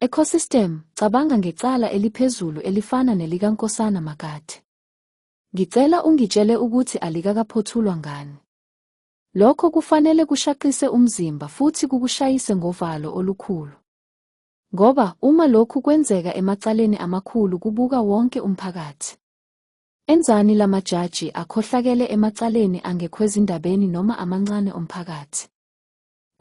Ecosystem, cabanga ngecala eliphezulu elifana nelikaNkosana Makate. Ngicela ungitshele ukuthi alikakaphothulwa ngani. Lokho kufanele kushaqise umzimba futhi kukushayise ngovalo olukhulu. Ngoba uma lokhu kwenzeka emacaleni amakhulu kubuka wonke umphakathi. Enzani la majaji akhohlakele emacaleni angekhwezindabeni noma amancane omphakathi?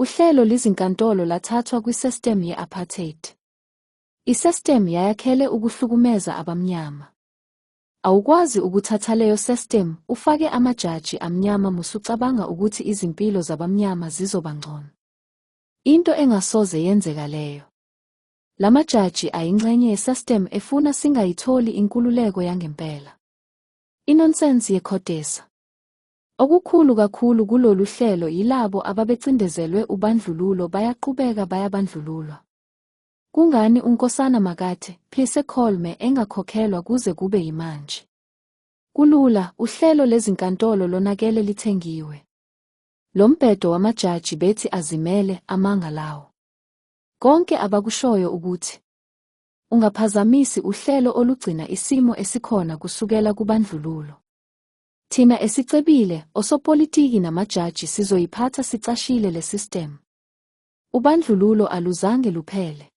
Uhlelo lizinkantolo lathathwa kwisestem ye-apartheid. Isestem yayakhele ukuhlukumeza abamnyama. Awukwazi ukuthathaleyo sestem ufake amajaji amnyama musucabanga ukuthi izimpilo zabamnyama zizoba ngcono. Into engasoze yenzeka leyo. Lamajaji ayinxenye yesestem efuna singayitholi inkululeko yangempela. Inonsense yekhodesa. Okukhulu kakhulu kulolu hlelo yilabo ababecindezelwe ubandlululo bayaqubeka bayabandlululwa. Kungani uNkosana Makate, Phise Kholme engakhokhelwa kuze kube yimanje? Kulula, uhlelo lezinkantolo lonakele lithengiwe. Lo mbhedo wamajaji bethi azimele, amanga lawo. Konke abakushoyo ukuthi ungaphazamisi uhlelo olugcina isimo esikhona kusukela kubandlululo. Thina esicebile, osopolitiki namajaji sizoyiphatha sicashile le system. Ubandlululo aluzange luphele.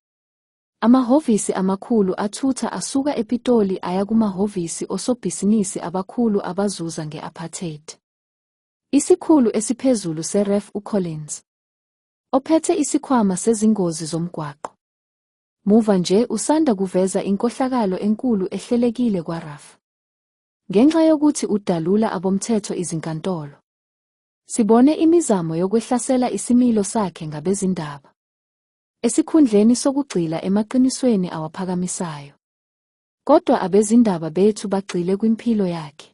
Amahhovisi amakhulu athutha asuka ePitoli aya kumahhovisi osobhisinisi abakhulu abazuza nge-apartheid. Isikhulu esiphezulu seREF uCollins, ophethe isikhwama sezingozi zomgwaqo, muva nje usanda kuveza inkohlakalo enkulu ehlelekile kwaRAF. Ngenxa yokuthi udalula abomthetho izinkantolo. Sibone imizamo yokwehlasela isimilo sakhe ngabezindaba. Esikhundleni sokugxila emaqinisweni awaphakamisayo. Kodwa abezindaba bethu bagxile kwimpilo yakhe.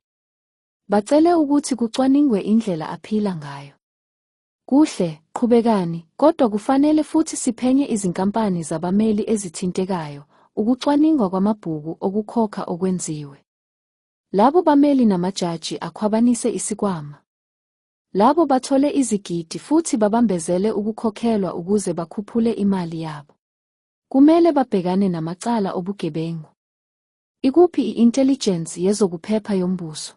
Bacele ukuthi kucwaningwe indlela aphila ngayo. Kuhle, qhubekani, kodwa kufanele futhi siphenye izinkampani zabameli ezithintekayo, ukucwaningwa kwamabhuku okukhokha okwenziwe. Labo bameli namajaji akhwabanise isikwama. Labo bathole izigidi futhi babambezele ukukhokhelwa ukuze bakhuphule imali yabo. Kumele babhekane namacala obugebengu. Ikuphi i-intelligence yezokuphepha yombuso?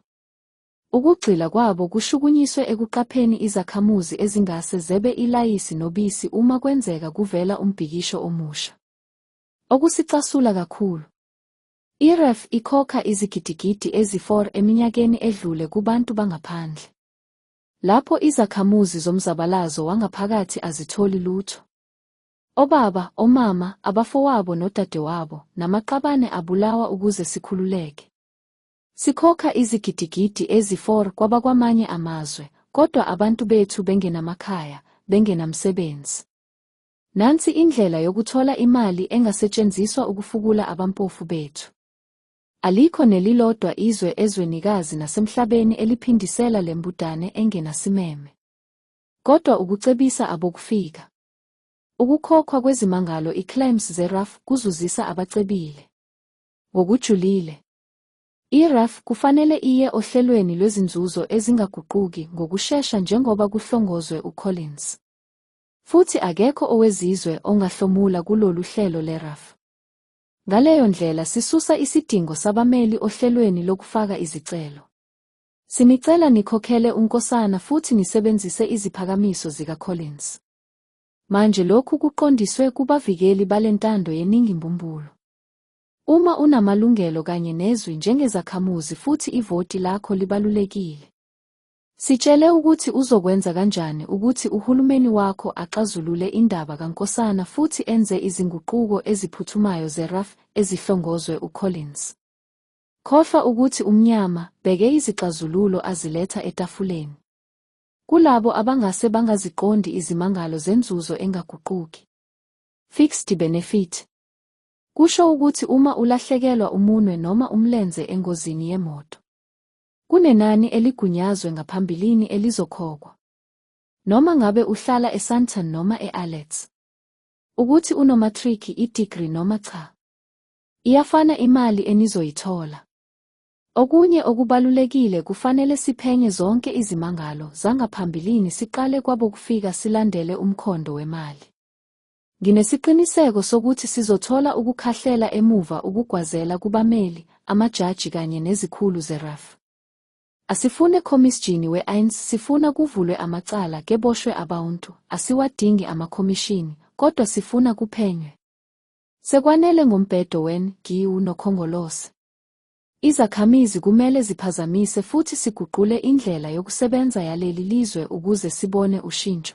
Ukugxila kwabo kushukunyiswe ekuqapheni izakhamuzi ezingase zebe ilayisi nobisi uma kwenzeka kuvela umbhikisho omusha. Okusicasula kakhulu. IREF ikhokha izigidigidi ezi-4 eminyakeni edlule kubantu bangaphandle. Lapho izakhamuzi zomzabalazo wangaphakathi azitholi lutho. Obaba, omama, abafowabo nodadewabo, namaqabane abulawa ukuze sikhululeke. Sikhokha izigidigidi ezi-4 kwabakwamanye amazwe, kodwa abantu bethu bengenamakhaya, bengenamsebenzi. Nansi indlela yokuthola imali engasetshenziswa ukufukula abampofu bethu. Alikho nelilodwa izwe ezwenikazi nasemhlabeni eliphindisela le mbudane engenasimeme. Kodwa ukucebisa abokufika. Ukukhokhwa kwezimangalo i-claims ze-RAF kuzuzisa abacebile. Ngokujulile. I-RAF kufanele iye ohlelweni lwezinzuzo ezingaguquki ngokushesha njengoba kuhlongozwe uCollins. Futhi akekho owezizwe ongahlomula kulolu hlelo le-RAF. Ngaleyo ndlela sisusa isidingo sabameli ohlelweni lokufaka izicelo. Sinicela nikhokhele uNkosana futhi nisebenzise iziphakamiso zikaCollins. Manje lokhu kuqondiswe kubavikeli bale ntando yeningi mbumbulu. Uma unamalungelo kanye nezwi njengezakhamuzi futhi ivoti lakho libalulekile. Sitshele ukuthi uzokwenza kanjani ukuthi uhulumeni wakho axazulule indaba kaNkosana futhi enze izinguquko eziphuthumayo zeRAF ezihlongozwe uCollins. Khohlwa ukuthi umnyama bheke izixazululo aziletha etafuleni. Kulabo abangase bangaziqondi izimangalo zenzuzo engaguquki. Fixed benefit. Kusho ukuthi uma ulahlekelwa umunwe noma umlenze engozini yemoto, kunenani eligunyazwe ngaphambilini elizokhokhwa. Noma ngabe uhlala eSandton noma e-Alex. Ukuthi unomatric, i-degree noma cha. Iyafana imali enizoyithola. Okunye okubalulekile kufanele siphenye zonke izimangalo zangaphambilini siqale kwabokufika silandele umkhondo wemali. Nginesiqiniseko sokuthi sizothola ukukhahlela emuva ukugwazela kubameli, amajaji kanye nezikhulu zeRAF. Asifune khomisjini we-INS sifuna kuvulwe amacala keboshwe abauntu, asiwadingi amakhomishini, kodwa sifuna kuphenywe. Sekwanele ngombhedo wen, giwu nokhongolose. Izakhamizi kumele ziphazamise futhi siguqule indlela yokusebenza yaleli lizwe ukuze sibone ushintsho.